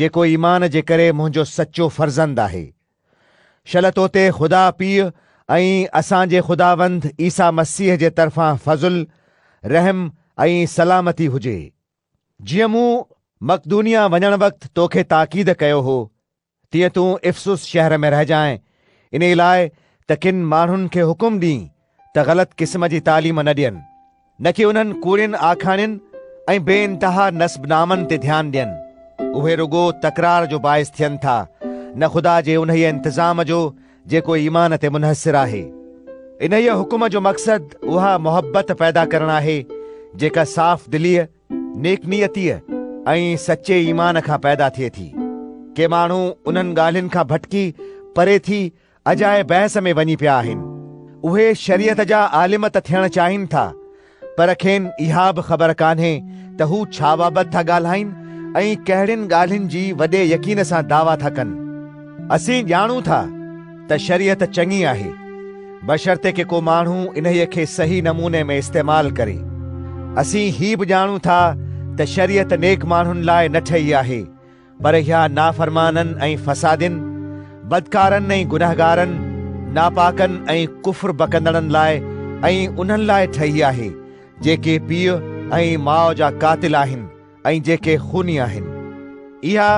جيڪو ايمان جي ڪري منهنجو سچو فرزند آهي. شل توتي خدا پيء ۽ اسان جي خداوند عيسيٰ مسيح جي طرفان فضل، رحم ۽ سلامتي هجي. جيئن مون مقدونيه وڃڻ وقت توکي تاڪيد ڪيو هو، تيئن تون افسس شهر ۾ رهجانء، انهي لاء ته ڪن ماڻهن کي حڪم ڏينء ته غلط قسم جي تعليم نه ڏين، نه ڪي انهن ڪوڙين آکاڻين ۽ بي انتها نسب نامن تي ڌيان ڏين. اهي رڳو تڪرار جو باعث ٿين ٿا، نه خدا جي انهيء انتظام جو جيڪو ايمان تي منحصر آهي. انهيء حڪم جو مقصد اها محبت پيدا ڪرڻ آهي، جيڪا صاف دليء، نيڪ نيتيء ۽ سچي ايمان کان پيدا ٿئي ٿي. ڪي ماڻهو انهن ڳالهين کان ڀٽڪي پري ٿي اجائي بحث ۾ وڃي پيا آهن. اهي شريعت جا عالم ته ٿيڻ چاهين ٿا پر کين اها به خبر ڪانهي ته هو ڇا بابت ٿا ڳالهائين ۽ ڪهڙين ڳالهين جي وڏي يقين سان دعويٰ ٿا ڪن. اسين ڄاڻون ٿا ته شريعت چڱي آهي بشرطيڪ ڪي ڪو ماڻهو انهيء کي صحيح نموني ۾ استعمال ڪري. اسين هي به ڄاڻون ٿا ته شريعت نيڪ ماڻهن لاء نه ٺهي آهي. پر اها نافرمانن ۽ فسادين، بدڪارن ۽ گنهگارن، ناپاڪن ۽ ڪفر بڪندڙن لاء ۽ انهن لاء ٺهي آهي، جيڪي پيء ۽ ماء جا قاتل آهن ۽ جيڪي خوني آهن. اها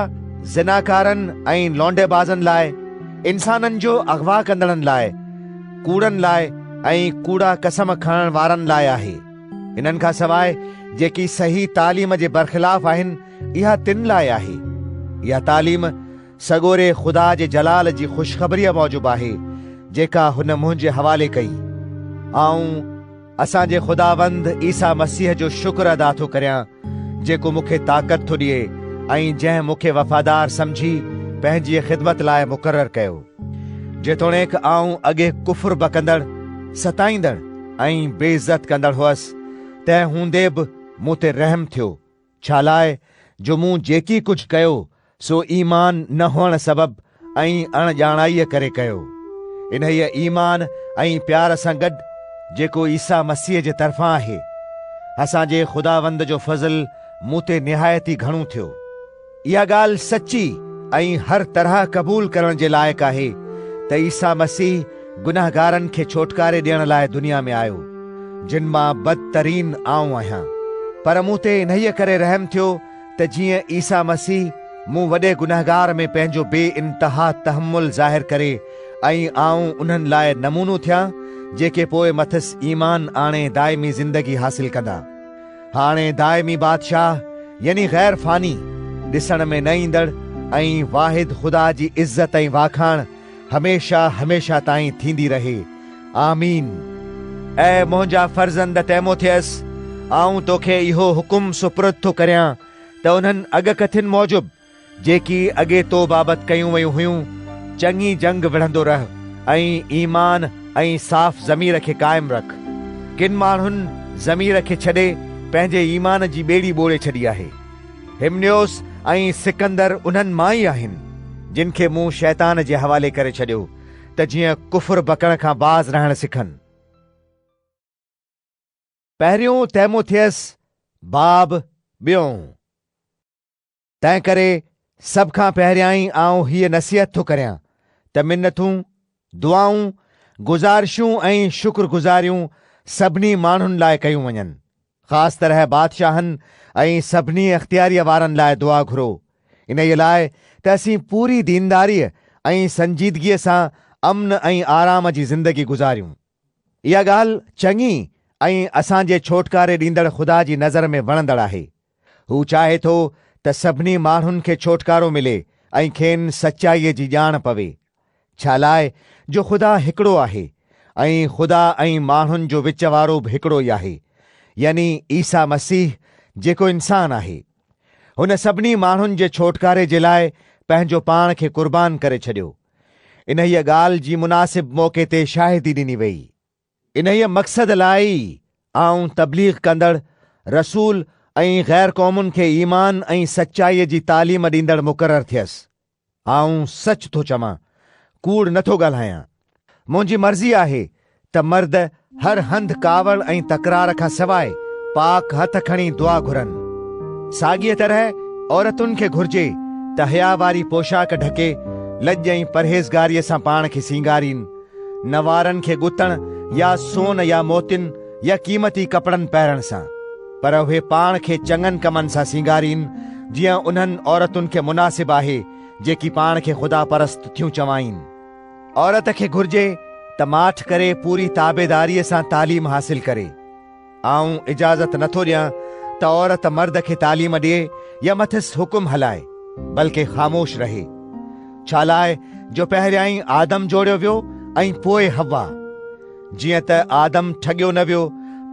زناڪارن ۽ لونڊي بازن لاء، انسانن جو اغوا ڪندڙن لاء، ڪوڙن لاء ۽ ڪوڙا قسم کڻڻ وارن لاء آهي. انهن کان سواء جيڪي صحيح تعليم جي برخلاف آهن، اها تن لاء آهي. اها تعليم سڳوري خدا جي جلال جي خوشخبريء موجب آهي، جيڪا هن منهنجي حوالي ڪئي. آئون اسان جي خداوند عيسيٰ مسيح جو شڪر ادا ٿو ڪريان، جيڪو مون کي طاقت ٿو ڏئي ۽ جنهن مون کي وفادار سمجهي پنهنجيء خدمت لاء مقرر ڪيو. جيتوڻيڪ آئون اڳي ڪفر بڪندڙ، ستائيندڙ ۽ بي عزت ڪندڙ هئس، تنهن هوندي به مون تي رحم ٿيو. ڇالاء جو مون جيڪي ڪجهه ڪيو سو ايمان نه هئڻ سبب ۽ اڻ ڄاڻائيء ڪري ڪيو. انهيء ايمان ۽ پيار سان گڏ جيڪو عيسيٰ مسيح جي طرفان آهي، اسان جي خداوند جو فضل مون تي نهايت ئي گهڻو ٿيو. اها ڳالهه سچي ۽ هر طرح قبول ڪرڻ جي لائق آهي ته عيسيٰ مسيح، گنهگارن کي ڇوٽڪاري ڏيڻ لاء دنيا ۾ آيو، جن مان بدترين آئون آهيان. پر مون تي انهيء ڪري رحم ٿيو ته جيئن عيسيٰ مسيح مون وڏي گنهگار ۾ پنهنجو بي انتها تحمل ظاهر ڪري ۽ آئون انهن لاء نمونو ٿيان جيڪي پوء مٿس ايمان آڻي دائمي زندگي حاصل ڪندا. هاڻي دائمي بادشاهه يعني غير فاني، ڏسڻ ۾ نه ايندڙ ۽ واحد خدا جي عزت ۽ واکاڻ، هميشه هميشه تائين ٿيندي رهي آمين. اي منهنجا فرزند تيموٿيس، آئون توکي اهو حڪم سپرد ٿو ڪريان ته انهن اڳڪٿين موجب، جيڪي اڳي تو بابت ڪيون ويون هيون، چڱي جنگ وڙهندو رهه ۽ ايمان ۽ صاف ضمير کي قائم رک. ڪن ماڻهن ضمير کي ڇڏي پنهنجي ايمان جي ٻيڙي ٻوڙي ڇڏي آهي. هيمنيوس ۽ سڪندر انهن مان ئي آهن، جن کي مون شيطان جي حوالي ڪري ڇڏيو، ته جيئن ڪفر بڪڻ کان باز رهڻ سکن. پهريون تيموٿيس، باب، ٻيون. تنهنڪري سڀ کان پهريائين آئون هيء نصيحت ٿو ڪريان، ته منٿون، دعائون، گذارشون ۽ شڪر گذاريون سڀني ماڻهن لاء ڪيون وڃن. خاص طرح بادشاهن ۽ سڀني اختياريء وارن لاء دعا گهرو، انهيء لاء ته اسين پوري دينداريء ۽ سنجيدگيء سان امن ۽ آرام جي زندگي گذاريون. اها ڳالهه چڱي ۽ اسان جي ڇوٽڪاري ڏيندڙ خدا جي نظر ۾ وڻندڙ آهي. هو چاهي ٿو ته سڀني ماڻهن کي ڇوٽڪارو ملي ۽ کين سچائيء جي ڄاڻ پوي. ڇا لاء جو خدا هڪڙو آهي ۽ خدا ۽ ماڻهن جو وچ وارو به هڪڙو ئي آهي، يعني عيسيٰ مسيح جيڪو انسان آهي. هن سڀني ماڻهن جي ڇوٽڪاري جي لاء پنهنجو پاڻ کي قربان ڪري ڇڏيو. انهيء ڳالهه جي مناسب موقعي تي شاهدي ڏني ويئي. انهيء مقصد لاء ئي آئون تبليغ ڪندڙ رسول ۽ غير قومن کي ايمان ۽ سچائيء جي تعليم ڏيندڙ مقرر ٿيس. آئون سچ ٿو چوان، ڪوڙ نه ٿو ڳالهايان. منهنجي مرضي آهي ته مرد هر هنڌ ڪاوڙ ۽ تڪرار کان سواء پاڪ هٿ کڻي دعا گهرن. ساڳيء طرح عورتن کي گهرجي ته حيا واري پوشاڪ ڍڪي، لڄ ۽ پرهيزگاريء سان پاڻ کي سينگارين. نه وارن کي ڳتڻ يا سون يا موتين يا قيمتي ڪپڙن پهرڻ سان، پر اهي پاڻ کي چڱن ڪمن سان سينگارين، جيئن انهن عورتن کي مناسب آهي، جيڪي پاڻ کي خدا پرست ٿيون چوائين. عورت کي گهرجي ته ماٺ ڪري پوري تابعداريء سان تعليم حاصل ڪري. آئون اجازت نه ٿو ڏيان ته عورت مرد کي تعليم ڏئي يا مٿس حڪم هلائي، بلڪ خاموش رهي. ڇالاء جو پهريائين آدم جوڙيو ويو ۽ پوء حوا. جيئن ته آدم ٺڳيو نه ويو،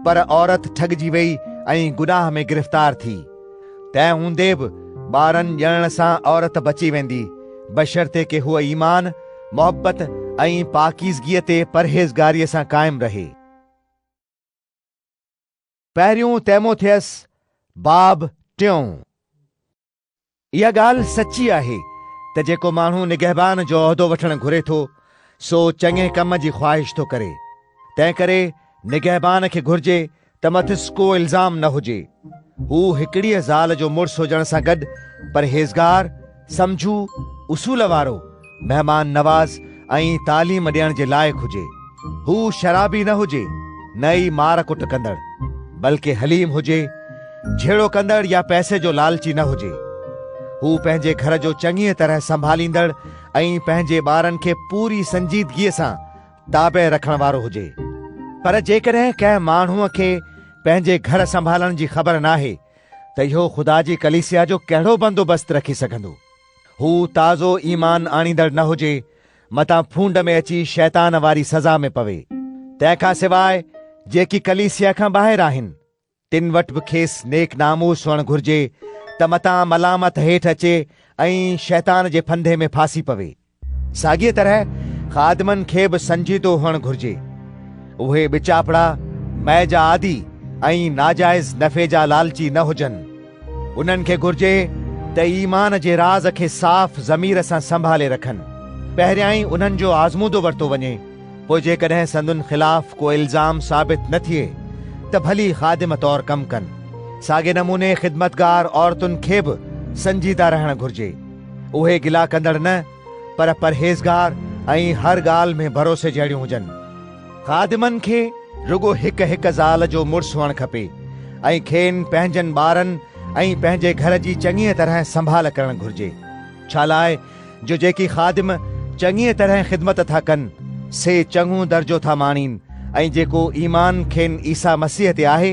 پر عورت ٺڳجي ويئي ۽ گناهه ۾ گرفتار ٿي. تنهن هوندي به ٻارن ڄڻڻ سان عورت بچي ويندي، بشرطيڪ هوء ايمان، محبت ۽ پاڪيزگيء تي پرهيزگاريء سان قائم رهي. پهريون تيموٿيس، باب ٽيون. اها ڳالهه سچي آهي ته جيڪو ماڻهو نگهبان جو عهدو وٺڻ گهري ٿو، سو چڱي ڪم جي خواهش ٿو ڪري. تنهنڪري نگهبان کي گهرجي ته مٿس ڪو الزام نه هجي. هو هڪڙيء زال جو مڙس هجڻ سان گڏ پرهيزگار، سمجهو، اصول وارو، مهمان نواز ۽ تعليم ڏيڻ جي لائق هجي. هو شرابي نه هجي، نه ئي مار ڪٽ ڪندڙ، بلڪه حليم هجي، جهيڙو ڪندڙ يا پئسي جو لالچي نه هجي. هو پنهنجي گهر جو چڱيء طرح سنڀاليندڙ ۽ پنهنجي ٻارن کي پوري سنجيدگيء سان تابع رکڻ وارو هجي. پر جيڪڏهن ڪنهن ماڻهوء کي پنهنجي گهر سنڀالڻ جي خبر ناهي ته اهو خدا جي ڪليسيا جو ڪهڙو بندوبست رکي سگهندو؟ هو تازو ايمان آڻيندڙ نه هجي متان ڦونڊ ۾ اچي شيطان واري سزا ۾ پوي. تنهن کان سواء جيڪي ڪليسيا کان ٻاهر آهن، تن وٽ به کيس نيڪ ناموس هئڻ گهرجي ته متان ملامت هيٺ اچي ۽ شيطان جي ڦندي ۾ ڦاسي پوي. ساڳيء طرح خادمن کي به سنجيدو هئڻ گهرجي. اهي ٻچاپڙا، مئي جا عادي ۽ ناجائز نفعي جا لالچي نه هجن. انهن کي گهرجي ته ايمان جي راز کي صاف ضمير سان سنڀالي رکن. پهريائين انهن جو آزمودو ورتو وڃي، پوء جيڪڏهن سندن خلاف ڪو الزام ثابت نه ٿئي ته ڀلي خادمه طور ڪم ڪن. ساڳئي نموني خدمتگار عورتن کي به سنجيده رهڻ گهرجي. اهي گلا ڪندڙ نه، پر پرهيزگار ۽ هر ڳالهه ۾ ڀروسي جهڙيون هجن. خادمن کي رڳو هڪ هڪ زال جو مڙس هئڻ کپي ۽ کين پنهنجن ٻارن ۽ پنهنجي گهر جي چڱيء طرح سنڀال ڪرڻ گهرجي، ڇالاء جو جيڪي خادم چڱيء طرح خدمت ٿا ڪن، سي چڱو درجو ٿا ماڻين ۽ جيڪو ايمان کين عيسيٰ مسيح تي آهي،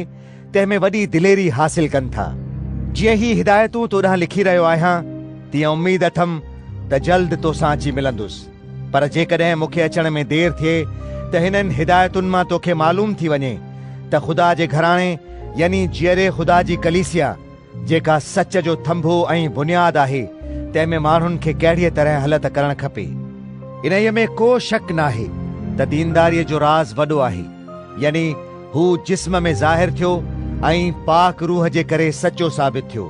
تنهن ۾ وڏي دليري حاصل ڪن ٿا. جيئن هي هدايتون تو ڏانهن لکي رهيو آهيان، تيئن اميد اٿم ته جلد تو سان اچي ملندس. پر جيڪڏهن مون کي اچڻ ۾ دير ٿئي ته هنن هدايتن مان توکي معلوم ٿي وڃي ته خدا جي گهراڻي يعني جيئري خدا جي ڪليسيا جيڪا سچ جو ٿنڀو ۽ بنياد آهي تنهن ۾ ماڻهن کي ڪهڙيء طرح هلت ڪرڻ کپي. انهيء ۾ ڪو شڪ ناهي ته دينداريء جو راز وڏو آهي، يعني هو جسم ۾ ظاهر ٿيو ۽ پاڪ روح جي ڪري سچو ثابت ٿيو.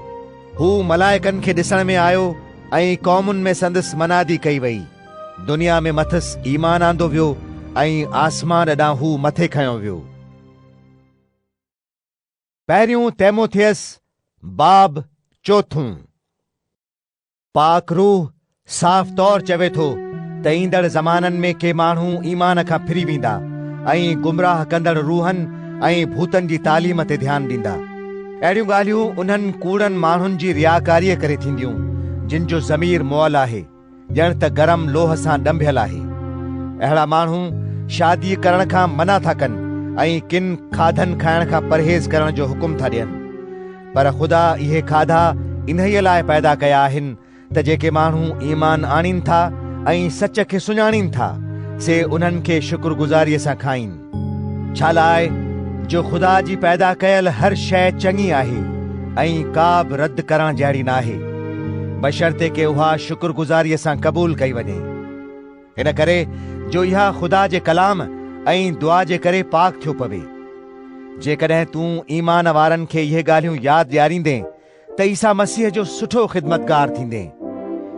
هو ملائڪن کي ڏسڻ ۾ آيو ۽ قومن ۾ سندس منادي ڪئي وئي. دنيا ۾ مٿس ايمان آندو ويو ۽ آسمان ڏانهن هو مٿي کنيو ويو. پهريون تيموٿيس، باب چوٿون. پاڪ روح صاف طور چوي ٿو ته ايندڙ زمانن ۾ ڪي ماڻهو ايمان کان ڦري ويندا ۽ گمراهه ڪندڙ روحن ۽ ڀوتن جي تعليم تي ڌيان ڏيندا. اهڙيون ڳالهيون انهن ڪوڙن ماڻهن جي رياڪاريء ڪري ٿينديون جن جو ضمير مئل آهي، ڄڻ ته گرم لوهه سان ڏنڀيل آهي. اهڙا ماڻهو شاديء ڪرڻ کان منع ٿا ڪن ۽ ڪن کاڌن کائڻ کان پرهيز ڪرڻ جو حڪم ٿا ڏين. پر خدا اهي کاڌا انهيء لاء پيدا ڪيا آهن، ته جيڪي ماڻهو ايمان آڻين ٿا ۽ سچ کي سڃاڻين ٿا، سي انهن کي شڪر گذاريء سان کائين. ڇالاء جو خدا جي پيدا ڪيل هر شيء چڱي آهي ۽ ڪا به رد ڪرڻ جهڙي ناهي، بشرطيڪه اها شڪر گذاريء سان قبول ڪئي وڃي. ان ڪري جو اها خدا جي ڪلام ۽ دعا جي ڪري پاڪ ٿيو پوي. جيڪڏهن تون ايمان وارن کي اهي ڳالهيون ياد ڏياريندين، ته عيسيٰ مسيح جو سٺو خدمتگار ٿيندين.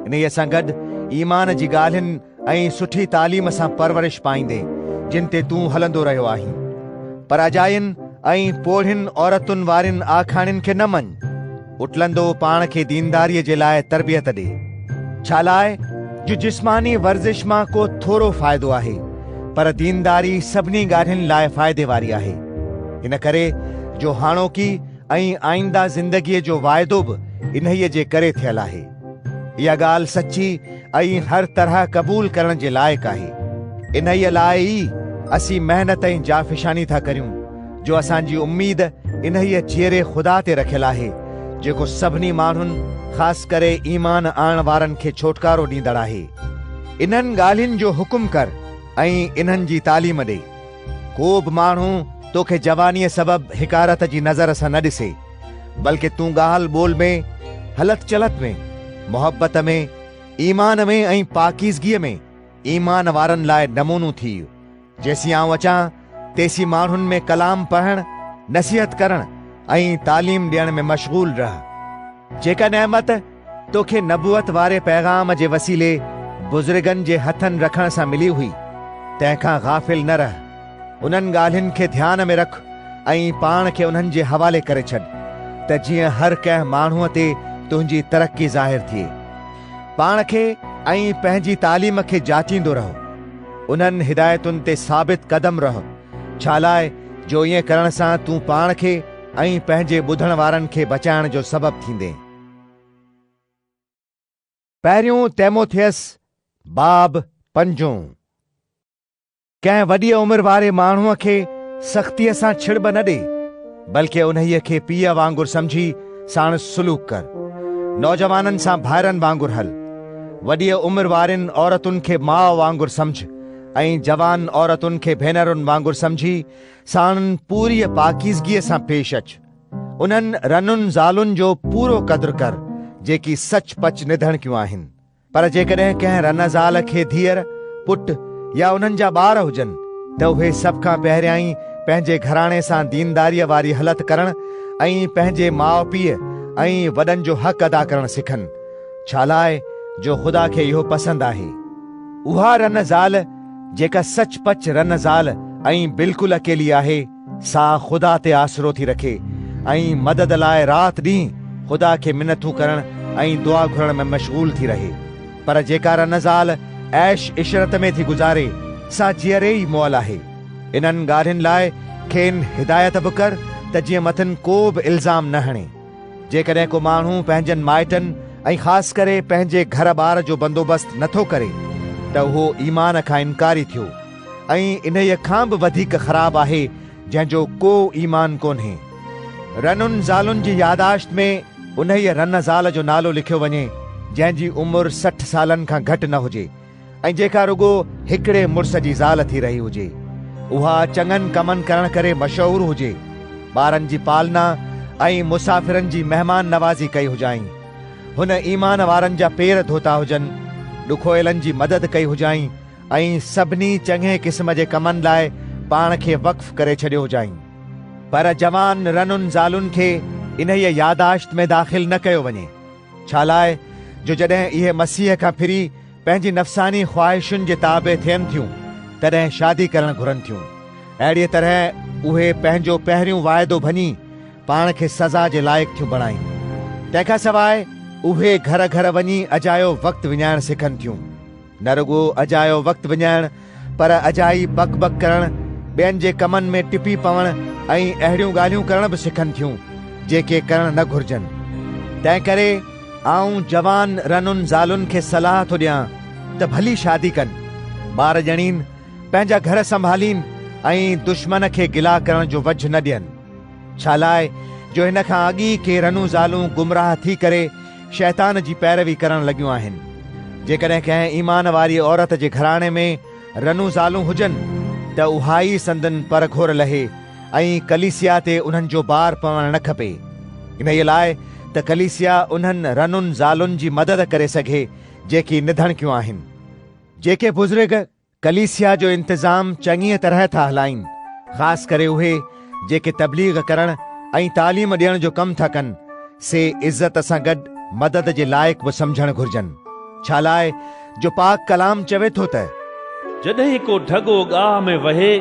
انهيء سان گڏ ايمان جي ڳالهين ۽ سٺي تعليم سان پرورش پائيندين، جن تي تون هلندو رهيو آهين. پر اجاين ۽ پوڙهين عورتن وارين آکاڻين کي نه مڃ. اٽلندو پاڻ کي دينداريء جي لاء تربيت ڏي. ڇالاء جو جسماني ورزش مان ڪو ٿورو فائدو آهي، پر دينداري سڀني ڳالهين لاء فائدي واري آهي. ان ڪري جو هاڻوڪي ۽ آئينده زندگيء جو واعدو به انهيء جي ڪري ٿيل آهي. اها ڳالهه سچي ۽ هر طرح قبول ڪرڻ جي لائق آهي. انهيء لاء ئي اسين محنت ۽ جافشاني ٿا ڪريون، جو اسان جي اميد انهيء جيئري خدا تي رکيل آهي، جيڪو سڀني ماڻهن خاص ڪري ايمان آڻڻ وارن کي ڇوٽڪارو ڏيندڙ آهي. انهن ڳالهين جو حڪم ڪر ۽ انهن جي تعليم ڏي. ڪو به ماڻهو توکي جوانيء سبب حقارت جي نظر سان نه ڏسي، بلڪ تون ڳالهه ٻولهه ۾، هلت چلت ۾، محبت ۾، ايمان ۾ ۽ پاڪيزگيء ۾ ايمان وارن لاء نمونو ٿيء. جيسين آئون اچان، تيسين ماڻهن ۾ ڪلام پڙهڻ، نصيحت ڪرڻ ۽ تعليم ڏيڻ ۾ مشغول رهه. جيڪا نعمت! توکي نبوت واري پيغام جي وسيلي بزرگن جي هٿن رکڻ سان ملي هئي، تنهن کان غافل نه رهه، انهن ڳالهين کي ڌيان ۾ رک ۽ پاڻ کي انهن جي حوالي ڪري ڇڏ، ته جيئن هر ڪنهن ماڻهوء تي تنهنجي ترقي ظاهر ٿئي. پاڻ کي ۽ پنهنجي تعليم کي جاچيندو رهه. انهن هدايتن تي ثابت قدم رهه، ڇالاء جو ائين ڪرڻ سان تون پاڻ کي ۽ پنهنجي ٻڌڻ وارن کي بچائڻ جو سبب ٿيندين. پهريون تيموٿيس باب پنجون ڪنهن وڏيء عمر واري ماڻهوء کي سختيء سان ڇڙٻ نه ڏي، بلڪ انهيء کي پيء وانگر سمجهي ساڻس سلوڪ ڪر. نوجوانن سان ڀائرن وانگر هل. وڏيء عمر وارين عورتن کي ماء وانگر سمجهه ۽ جوان عورتن کي ڀينرن وانگر سمجهي ساڻن پوريء پاڪيزگيء سان پيش اچ. انهن رنن زالن جو پورو قدر ڪر جيڪي سچ پچ نڌڻڪيون آهن. پر جيڪڏهن ڪنهن رن زال کي ڌيئر، پٽ يا انهن جا ٻار هجن ته اهي سڀ کان پهريائين پنهنجي گهراڻي سان دينداريء واري هلت ڪرڻ ۽ پنهنجي ماء پيء ۽ وڏن جو حق ادا ڪرڻ سکن، ڇالاء جو خدا کي اهو پسند آهي. اها رن زال جيڪا سچ پچ رن زال ۽ بلڪل اڪيلي آهي، سا خدا تي آسرو ٿي رکي ۽ مدد لاء رات ڏينهن خدا کي منٿون ڪرڻ ۽ دعا گهرڻ ۾ مشغول ٿي رهي. پر جيڪا رنه زال عيش عشرت ۾ ٿي گذاري سا جيئري ئي مئل آهي. انهن ڳالهين لاء کين هدايت به ڪر ته جيئن مٿن ڪو به الزام نه هڻي. جيڪڏهن ڪو ماڻهو پنهنجن مائٽن ۽ خاص ڪري پنهنجي گهر ٻار جو بندوبست نٿو ڪري ته اهو ايمان کان انڪاري ٿيو. ۽ انهيء کان به وڌيڪ خراب آهي جنهن جو ڪو ايمان ڪونهي. رنن زالن جي ياداشت ۾ انهيء رن زال جو نالو لکيو وڃي جنهن جي عمر سٺ سالن کان گهٽ نه هجي ۽ جيڪا رڳو هڪڙي مڙس جي زال ٿي رهي هجي. اها چڱن ڪمن ڪرڻ ڪري مشهور هجي. ٻارن جي پالنا ۽ مسافرن جي مهمان نوازي ڪئي هجائين. هن ايمان وارن جا پير ڌوتا هجن، ڏکويلن جي مدد ڪئي هجائين، ۽ سڀني چڱي قسم جي ڪمن لاء پاڻ کي وقف ڪري ڇڏيو هجائين. پر جوان رنن زالن کي انهيء ياداشت ۾ داخل نه ڪيو وڃي، ڇالاء جو جڏهن اهي مسيح کان ڦري پنهنجي نفساني خواهشن جي تابع ٿين ٿيون، تڏهن شادي ڪرڻ گهرن ٿيون. اهڙيء طرح اهي پنهنجو پهريون واعدو ڀڃي، پاڻ کي سزا جي لائق ٿيون بڻائين. تنهن کان سواء اهي گهر گهر وڃي اجايو وقت وڃائڻ سکن ٿيون. نه رڳو اجايو وقت وڃائڻ پر اجائي بڪ بڪ ڪرڻ، ٻين جي ڪمن ۾ ٽپي پوڻ ۽ اهڙيون ڳالهيون ڪرڻ به سکن ٿيون، جيڪي ڪرڻ نه گهرجن. تنهن ڪري آئون جوان رنن زالن کي صلاح ٿو ڏيان ته ڀلي شادي ڪن، ٻار ڄڻين، پنهنجا گهر سنڀالين ۽ دشمن کي گلا ڪرڻ جو وجهه نه ڏين. ڇالاء جو هن کان اڳ ئي ڪي رنون زالون گمراهه ٿي ڪري، شيطان جي پيروي ڪرڻ لڳيون آهن. جيڪڏهن ڪنهن ايمان واريء عورت جي گهراڻي ۾ رنون زالون هجن ته اها ئي سندن پر گهور لهي ۽ ڪليسيا تي انهن جو بار پوڻ نه کپي. انهيء لاء ته ڪليسيا انهن رنون زالن جي مدد ڪري سگهي جيڪي نڌڻڪيون آهن. جيڪي بزرگ ڪليسيا جو انتظام چڱيء طرح ٿا هلائين، خاص ڪري اهي جيڪي تبليغ ڪرڻ ۽ تعليم ڏيڻ جو ڪم ٿا ڪن، سي عزت سان گڏ مدد جي لائق به سمجهڻ گهرجن، ڇالاء جو پاڪ ڪلام چوي ٿو ته. جڏهن ڪو ڍڳو ڳاهه ۾ وهي،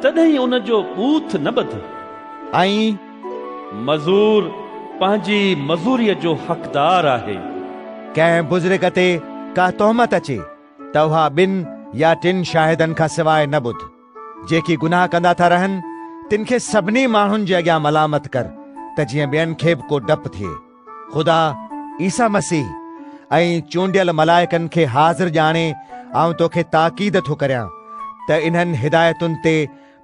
تڏهن ان جو ٻوٿ نه ٻڌ. ۽. مزور پنهنجي مزوريء جو حقدار آهي. ڪنهن بزرگ تي ڪا تهمت اچي. توهان ٻن يا ٽن شاهدن کان سواء نه ٻڌ، جيڪي گناهه ڪندا ٿا رهن، تن کي سڀني ماڻهن جي اڳيان ملامت ڪر، ته جيئن ٻين کي به ڪو ڊپ ٿئي. خدا، عيسيٰ مسيح ۽ چونڊيل ملائڪن کي حاضر ڄاڻي آئون توکي تاڪيد ٿو ڪريان، ته انهن هدايتن تي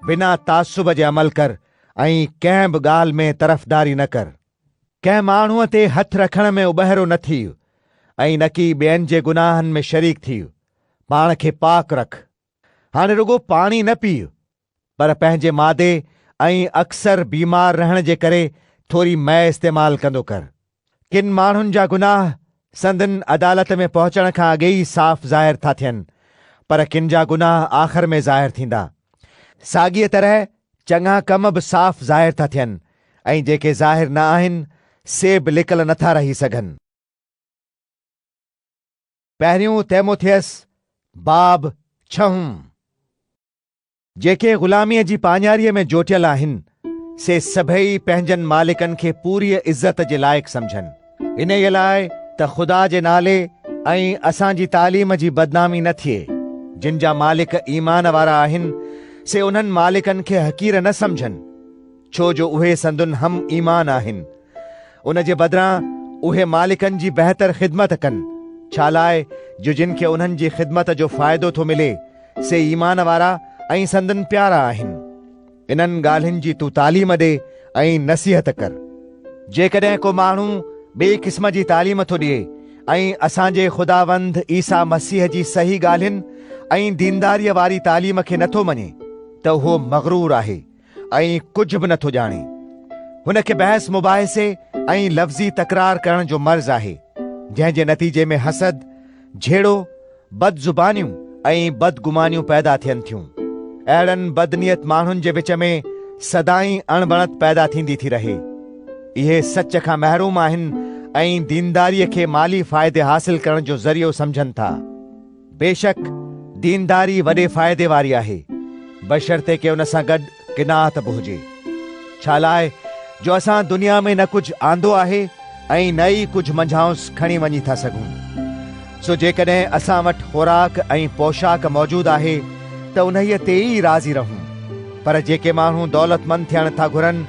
بنا تعصب جي عمل ڪر ۽ ڪنهن به ڳالهه ۾ طرفداري نه ڪر. ڪنهن ماڻهوء تي هٿ رکڻ ۾ اٻهرو نه ٿي ۽ نڪي ٻين جي گناهن ۾ شريڪ ٿي، پاڻ کي پاڪ رک. هاڻي رڳو پاڻي نه پيء، پر پنهنجي مادي ۽ اڪثر بيمار رهڻ جي ڪري ٿوري مئي استعمال ڪندو ڪر. ڪن ماڻهن جا گناهه سندن عدالت ۾ پهچڻ کان اڳي ئي صاف ظاهر ٿا ٿين، پر ڪن جا گناهه آخر ۾ ظاهر ٿيندا. ساڳيء طرح چڱا ڪم به صاف ظاهر ٿا ٿين ۽ جيڪي ظاهر نه آهن، سي به لڪل نه ٿا رهي سگهن. پهريون تيموٿيس، باب ڇهون. جيڪي غلاميء جي پاڃاريء ۾ جوٽيل آهن، سي سڀئي پنهنجن مالڪن کي پوريء عزت جي لائق سمجهن، انهيء لاء ته خدا جي نالي ۽ اسان جي تعليم جي بدنامي نه ٿئي. جن جا مالڪ ايمان وارا آهن، سي انهن مالڪن کي حقير نه سمجهن، ڇو جو اهي سندن هم ايمان آهن. ان جي بدران اهي مالڪن جي بهتر خدمت ڪن، ڇالاء جو جن کي انهن جي خدمت جو فائدو ٿو ملي، سي ايمان وارا ۽ سندن پيارا آهن. انهن ڳالهين جي تون تعليم ڏي ۽ نصيحت ڪر. جيڪڏهن ڪو ماڻهو ٻئي قسم جي تعليم ٿو ڏئي ۽ اسان جي خداوند عيسيٰ مسيح جي صحيح ڳالهين ۽ دينداريء واري تعليم کي نٿو مڃي ته اهو مغرور آهي. ۽ ڪجهه به نٿو ڄاڻي. هن کي بحث مباحثي ۽ لفظي تڪرار ڪرڻ جو مرض آهي، جنهن جي نتيجي ۾ حسد، جهيڙو، بد زبانيون ۽ بد گمانيون پيدا ٿين ٿيون. اهڙن بد نيت ماڻهن جي وچ ۾ سدائين اڻبڻت پيدا ٿيندي ٿي رهي. اهي سچ کان محروم آهن ۽ دينداريء کي مالي فائدي حاصل ڪرڻ جو ذريعو سمجهن ٿا. بيشڪ دينداري وڏي فائدي واري آهي، بشرطيڪه ان سان گڏ قناعت به هجي. ڇالاء جو اسان دنيا ۾ نه ڪجهه آندو آهي ۽ نه ئي ڪجهه منجهانئس کڻي وڃي ٿا سگهون. سو جيڪڏهن اسان وٽ خوراڪ ۽ پوشاڪ موجود آهي ته انهيء تي ئي راضي رهون. پر جيڪي ماڻهو دولتمند ٿيڻ ٿا گهرن،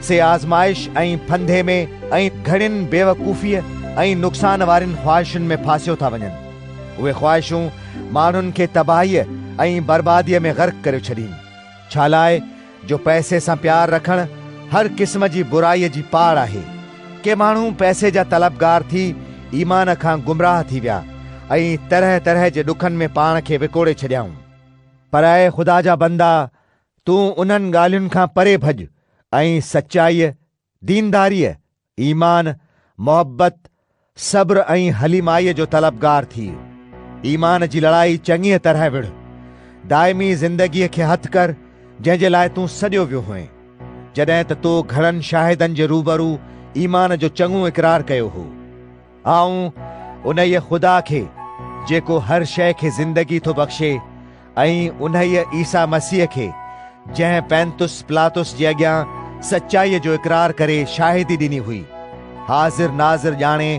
سي آزمائش ۽ ڦندي ۾، ۽ گهڻين بيوقوفيء ۽ نقصان وارين خواهشن ۾ ڦاسيو ٿا وڃن. اهي خواهشون ماڻهن کي تباهيء ۽ برباديء ۾ غرق ڪريو ڇڏين، ڇالاء جو پئسي سان پيار رکڻ هر قسم جي برائيء جي پاڙ آهي. ڪي ماڻهو پئسي جا طلبگار ٿي ايمان کان گمراهه ٿي ويا ۽ طرح طرح جي ڏکن ۾ پاڻ کي وڪوڙي ڇڏيائون. پر اي خدا جا بندا! تون انهن ڳالهين کان پري ڀڄ ۽ سچائيء، دينداريء ايمان، محبت، صبر ۽ حليمائيء جو طلبگار ٿي، ايمان جي لڙائي چڱيء طرح وڙهه. دائمي زندگيء کي هٿ ڪر، جنهن جي لاء تون سڏيو ويو هئين. جڏهن ته تو گهڻن شاهدن جي روبرو ايمان جو چڱو اقرار ڪيو هو. آئون انهيء خدا کي، جيڪو هر شيء کي زندگي ٿو بخشي، ۽ انهيء عيسيٰ مسيح کي، جنهن پينتس پلاطس جي اڳيان سچائيء جو اقرار ڪري شاهدي ڏني هئي، حاضر ناظر ڄاڻي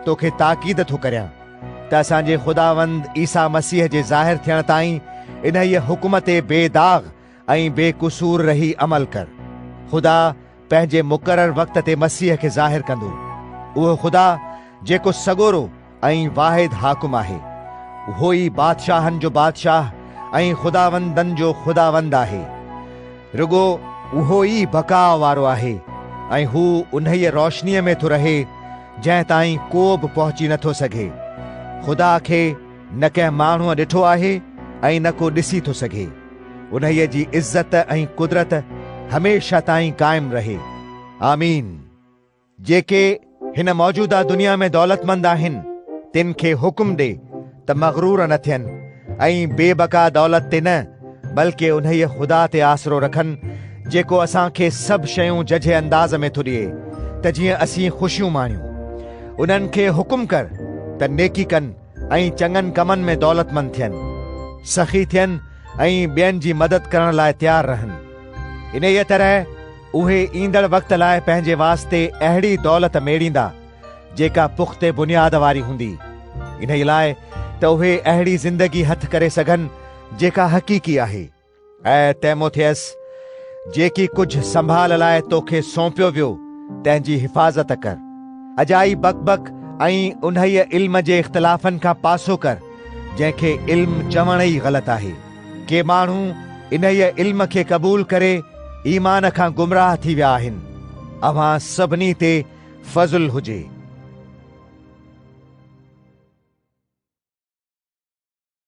توکي تاڪيد ٿو ڪريان، ته اسان جي خداوند عيسيٰ مسيح جي ظاهر ٿيڻ تائين انهيء حڪم تي بي داغ ۽ بي قصور رهي عمل ڪر. خدا پنهنجي مقرر وقت تي مسيح کي ظاهر ڪندو. اهو خدا جيڪو سڳورو ۽ واحد حاڪم آهي. اهو ئي بادشاهن جو بادشاهه ۽ خداوندن جو خداوند آهي. رڳو. اهو ئي بقاء وارو آهي ۽ هو انهيء روشنيء ۾ ٿو رهي جنهن تائين ڪو به پهچي نه ٿو سگهي. خدا کي نه ڪنهن ماڻهوء ڏٺو آهي ۽ نه ڪو ڏسي ٿو سگهي. انهيء جي عزت ۽ قدرت هميشه تائين قائم رهي. آمين. جيڪي هن موجوده دنيا ۾ دولتمند آهن، تن کي حڪم ڏي ته مغرور نه ٿين ۽ بي بقا دولت تي نه، بلڪه انهيء خدا تي آسرو رکن، جيڪو اسان کي سڀ شيون ججهي انداز ۾ ٿو ڏئي، ته جيئن اسين خوشيون ماڻيون. انهن کي حڪم ڪر ته نيڪي ڪن. ۽ چڱن ڪمن ۾ دولتمند ٿين، سخي ٿين ۽ ٻين جي مدد ڪرڻ لاء تيار رهن. انهيء طرح اهي ايندڙ وقت لاء پنهنجي واسطي اهڙي دولت ميڙيندا، جيڪا پختي بنياد واري هوندي، انهيء لاء ته اهي اهڙي زندگي هٿ ڪري سگهن، جيڪا حقيقي آهي. اي تيموٿيس، جيڪي ڪجهه سنڀال لاء توکي سونپيو ويو، تنهن جي حفاظت ڪر. اجائي بڪ بڪ ۽ انهيء علم جي اختلافن کان پاسو ڪر، جنهن کي علم چوڻ ئي غلط آهي. ڪي ماڻهو انهيء علم کي قبول ڪري ايمان کان گمراهه ٿي ويا آهن. اوهان سڀني تي فضل هجي.